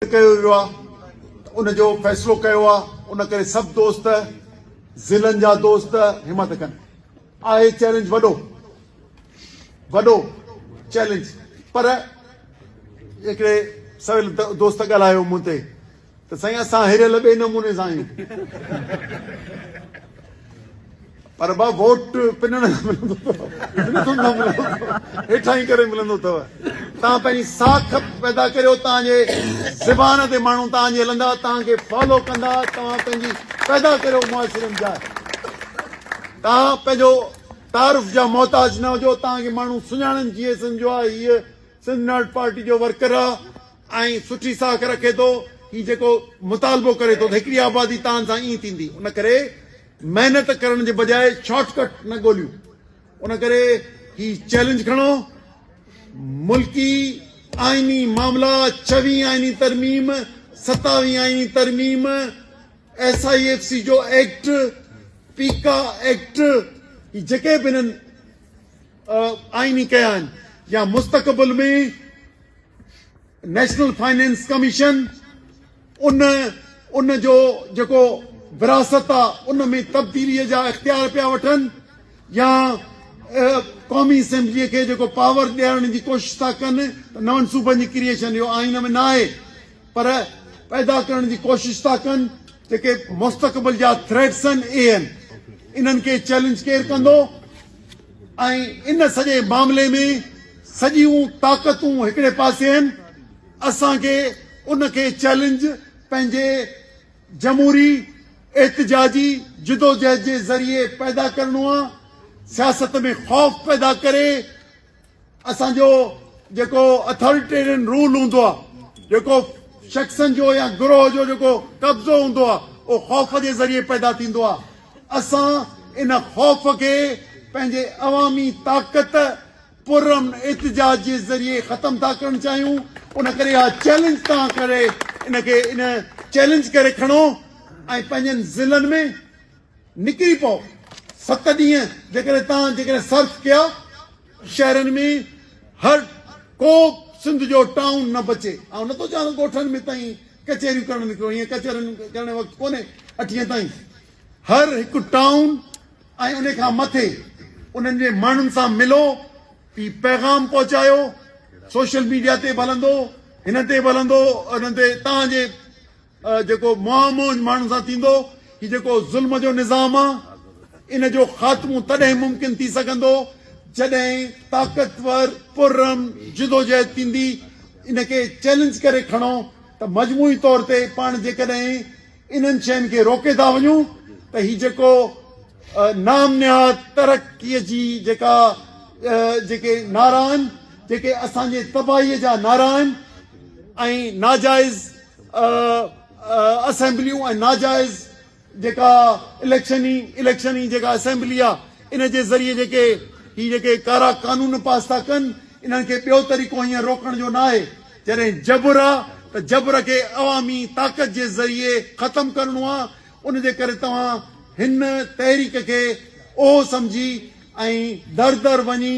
رد ڪيو ويو آهي ته ان جو فيصلو ڪيو آهي ان ڪري سڀ دوست ضلعن جا دوست همت ڪن آهي چئلينج وڏو وڏو چئلينج پر هڪڙي سويل دوست ڳالهايو مون تي ته سائين اسان هريل ٻئي نموني سان آهيون پر ڀا ووٽ پنڻ نه ملندو اٿو بلڪل نه ملندو اٿو هيٺائين ڪري ملندو اٿو تان پنهنجي ساک پيدا ڪريو تان جي زبان تي ماڻهو تان جي هلندا تان کي فالو ڪندا توهان پنهنجي پيدا ڪريو معاشري ۾ جاء تان پنهنجو تعارف جا محتاج نه هجو تان کي ماڻهو سڃاڻن جي سنجو آ هي سنڌ ناٽ پارٽي جو ورڪر آ ۽ سٺي ساک رکي ٿو، هي جيڪو مطالبو ڪري ٿو ته هڪڙي آبادي تان سان ائين ٿيندي، ان ڪري محنت ڪرڻ جي بجاء شارٽ ڪٽ نه ڳوليون، ان ڪري هي چئلينج کڻو، ملڪي آئيني معاملا، ڇهوين آئيني ترميم، ستاوين آئيني ترميم، ايس آء ايف سي جو ايڪٽ، پيڪا ايڪٽ، هي جيڪي به هنن آئيني ڪيا آهن يا مستقبل ۾ نيشنل فنانس ڪميشن ان ان جو جيڪو وراثت آ ان ۾ تبديلي جا اختيار پيا وٺن يا قومي اسيمبلي کي جيڪو پاور ڏيارڻ جي ڪوشش ٿا ڪن ته نون صوبن جي ڪريشن اهو آئين ۾ ناهي پر پيدا ڪرڻ جي ڪوشش ٿا ڪن جيڪي مستقبل جا ٿريٽس آهن اهي آهن انهن کي چيلنج ڪير ڪندو ۽ ان سڄي معاملي ۾ سڄيون طاقتون هڪڙي پاسي آهن، اسان کي ان کي چئلينج پنهنجي جمهوري احتجاجي جدوجهد جي ذريعي پيدا ڪرڻو آهي، سياست ۾ خوف پيدا ڪري، اسان جو جيڪو اٿاريٽيرين رول هوندو آهي، جيڪو شخصن جو يا گروهه جو جيڪو قبضو هوندو آهي، اهو خوف جي ذريعي پيدا ٿيندو آهي. اسان ان خوف کي پنهنجي عوامي طاقت، پرامن احتجاج جي ذريعي ختم ٿا ڪرڻ چاهيون. ان ڪري اها چئلينج توهان ڪري ان کي ان چئلينج ڪري کڻو ۽ پنهنجن ضلعن ۾ نڪري پئو. ست ڏينهن جيڪڏهن توهان جيڪڏهن صرف ڪيا، شهرن ۾ هر ڪو سنڌ جو ٽائون نه بچي. آئون نٿو چوان ته ڳوٺن ۾ تائين ڪچهريون ڪرڻ نڪرو، ايئن ڪچهرين ڪرڻ جو وقت ڪونهي اٺينء تائين. هر هڪ ٽائون ۽ انهي کان مٿي انهن جي ماڻهن سان ملو، هي پيغام پهچايو، سوشل ميڊيا تي به هلندو، هن تي به هلندو، انهن تي توهان جي. جيڪو مهه مهنج ماڻهن سان ٿيندو، هي جيڪو ظلم جو نظام آ، ان جو خاتمو تڏهن ممڪن ٿي سگهندو، جڏهن طاقتور پررحم جدوجهد ٿيندي، ان کي چئلينج ڪري کڻو ته مجموعي طور تي پاڻ جيڪڏهن انهن شين کي روڪي ٿا وڃون ته هي جيڪو نام نهاد ترقيء جي جيڪا جيڪي نعرا آهن، جيڪي اسان جي تباهيء جا نعرا آهن ۽ ناجائز اسيمبليون ۽ ناجائز جيڪا اليڪشن اليڪشن هي جيڪا اسيمبلي آ ان جي ذريعي جيڪي هي جيڪي ڪارا قانون پاس ٿا ڪن انهن کي ٻيو طريقو هيئن روڪڻ جو ناهي جڏهن جبر آ ته جبر کي عوامي طاقت جي ذريعي ختم ڪرڻو آ ان جي ڪري توهان هن تحريڪ کي اهو سمجهي ۽ در در وڃي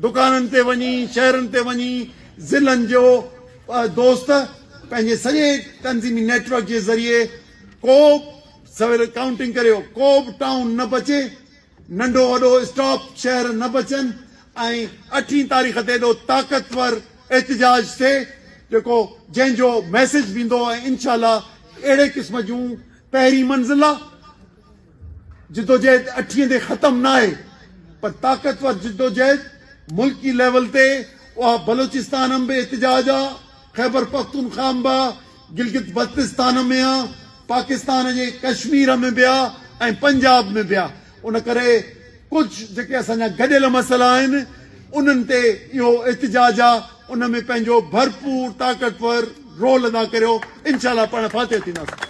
دڪانن تي وڃي، شهرن تي وڃي ضلعن جو دوست پنهنجي سڄي تنظيمي نيٽ ورڪ جي ذريعي ڪو به سويل ڪائونٽنگ ڪريو ڪو به ٽائون نه بچي، ننڍو وڏو اسٽاپ شهر نه بچن ۽ اٺين تاريخ تي ايڏو طاقتور احتجاج ٿئي جيڪو جنهن جو ميسيج ويندو ۽ انشاء الله اهڙي قسم جون پهرين منزلا. جدوجهد اٺين تي ختم ناهي پر طاقتور جدوجهد ملڪي ليول تي اها بلوچستان ۾ به احتجاج آ، خيبرپختونخواه ۾ به آ، گلگت بلتستان ۾ آ، پاڪستان جي ڪشمير ۾ به آ ۽ پنجاب ۾ به آ ان ڪري ڪجهه جيڪي اسان جا گڏيل مسئلا آهن انهن تي اهو احتجاج آ ان ۾ پنهنجو ڀرپور طاقتور رول ادا ڪريو انشاء الله پاڻ فاتح ٿينداسين.